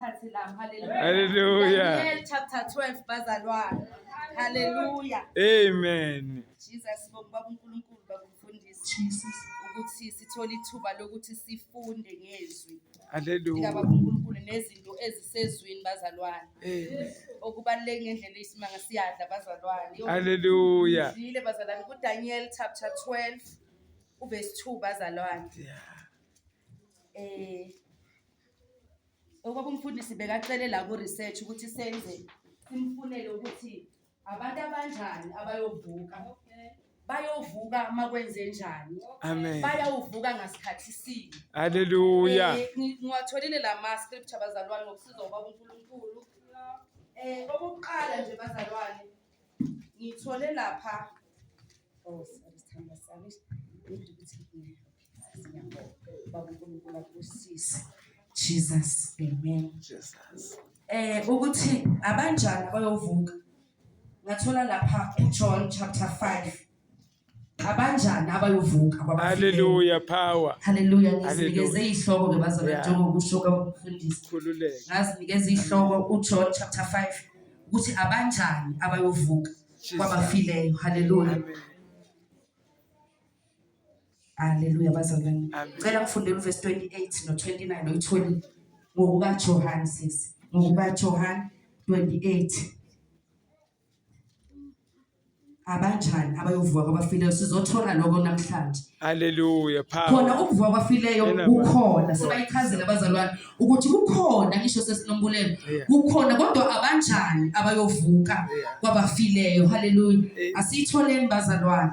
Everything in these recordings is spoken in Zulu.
sikhathi lapho haleluya haleluya Daniel chapter 12 bazalwane haleluya amen Jesus sibonga baba uNkulunkulu baba umfundisi Jesus ukuthi sithole ithuba lokuthi sifunde ngezwi haleluya baba uNkulunkulu nezinto ezisezwini bazalwane amen okubaluleke ngendlela isimanga siyadla bazalwane haleluya ngile bazalwane ku Daniel chapter 12 uverse 2 bazalwane yeah eh okwaba umfundisi bekacele la ku-research ukuthi senze simfunele ukuthi abantu abanjani abayovuka bayovuka uma kwenze njani amen bayawuvuka ngasikhathi sini haleluya Eh, ngi- ngiwatholile la ma-scripture bazalwane ngokusiza ubaba unkulunkulu um okokuqala nje bazalwane ngithole lapha oh, sorry, sithandwa sami. Ngidla ukuthi ngidle. Jesus, amen. Jesus. Eh ukuthi abanjani bayovuka. Ngathola lapha uJohn chapter 5. Abanjani abayovuka ababafile. Hallelujah power. Hallelujah ngizinikeze izihloko ke bazalwane njengoba kusho kwabafundisi. Khululeke. Ngazinikeza izihloko uJohn chapter 5 ukuthi abanjani abayovuka kwabafileyo. Hallelujah. Amen. Haleluya bazalwane. Cela ngifundele uverse 28 no 29 no 20 ngokuka Johann sis. Ngokuka Johann 28. abanjani abayovuka kwabafileyo sizothola lokho namhlanje haleluya phambi khona ukuvuka kwabafileyo kukhona sebayichazela abazalwane ukuthi kukhona ngisho sesinombulelo kukhona kodwa abanjani abayovuka kwabafileyo haleluya asiyitholeni bazalwane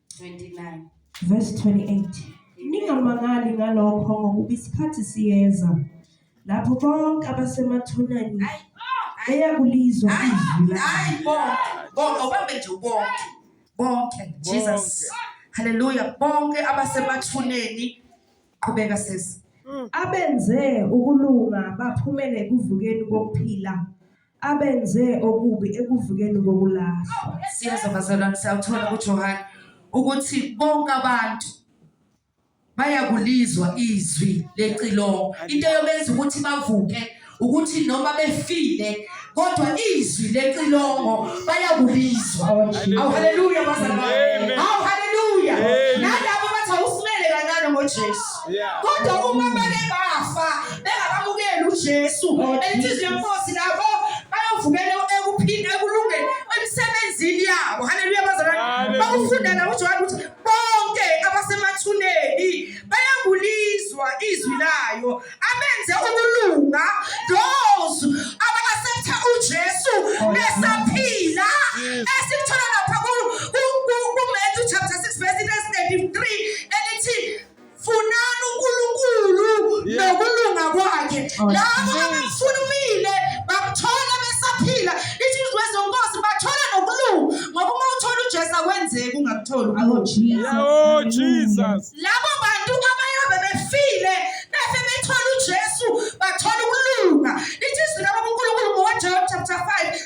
29 verse 28 ningamangali ngalokho ngokuba isikhathi siyeza lapho bonke abasemathuneni Ay, ay, eyakulizwa ay, izwi lakhe ay, bonke bonke ubambe nje bonke bonke jesus haleluya bonke abasemathuneni qhubeka sisi abenze ukulunga baphumele ekuvukeni kokuphila abenze okubi ekuvukeni kokulahlwa siyeza bazalwane siyakuthola kuJohane ukuthi bonke abantu bayakulizwa izwi lecilongo into yobenza ukuthi bavuke ukuthi noma befile kodwa izwi lecilongo bayakulizwa awu haleluya bazalwane awu haleluya nalabo bathi awusimele kancane ngoJesu kodwa uma bake bafa bengakamukeli uJesu enhliziyo yenkosi labo bayovukela ekuphila ekulungeni emsebenzini yabo haleluya bazalwane bakufunda la uJohane ukuthi bonke abasemathuneni bayakulizwa izwi layo abenze ukulunga those abakaseptha uJesu besaphila esikuthola lapha ku Matthew chapter 6 verse 33 elithi funani uNkulunkulu nokulunga kwakhe oh, labo abamfuna umile bamthola besaphila ithi izwe zonkosi bathola nokulunga ngoba uma uthola uJesu akwenzeki ungakutholi oh Jesus oh Jesus labo bantu abayobe befile bese bethola uJesu bathola ukulunga ithi izwi labo uNkulunkulu ngoJohn chapter 5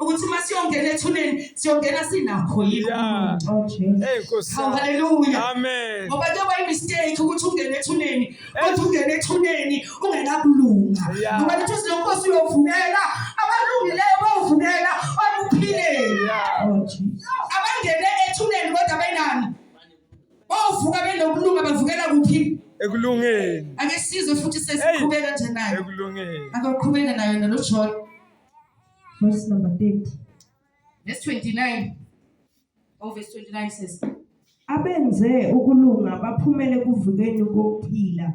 ukuthi uma siyongena ethuneni siyongena sinakho yikho oh, haleluya ngoba kuyoba imistake ukuthi ungene ethuneni kodwa ungene ethuneni ungenakulunga ngoba lithi uthi lenkosi uyovumela abalungileyo bawuvumela okuphileni oh, abangene ethuneni kodwa benani bavuka benokulunga bavukela kuphi ekulungeni ake sizwe futhi sesiqhubeka nje nayo ekulungeni akaqhubeka nayo nalo John verse number 30. Verse 29. Oh, verse 29 says, Abenze ukulunga baphumele kuvukeni kokuphila.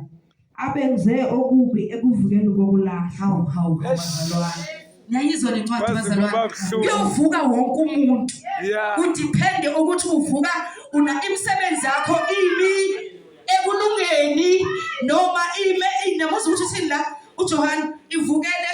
Abenze okubi ekuvukeni kokulahlwa. Hawu, hawu, hawu, Yes. bazalwane. Niyayizwa le ncwadi Kwaze bazalwane. kuba buhlungu. Kuyovuka wonke umuntu. Yeah. Kudiphende ukuthi uvuka una imisebenzi yakho imi ekulungeni noma ime inamuzwa ukuthi uthini la uJohane ivukele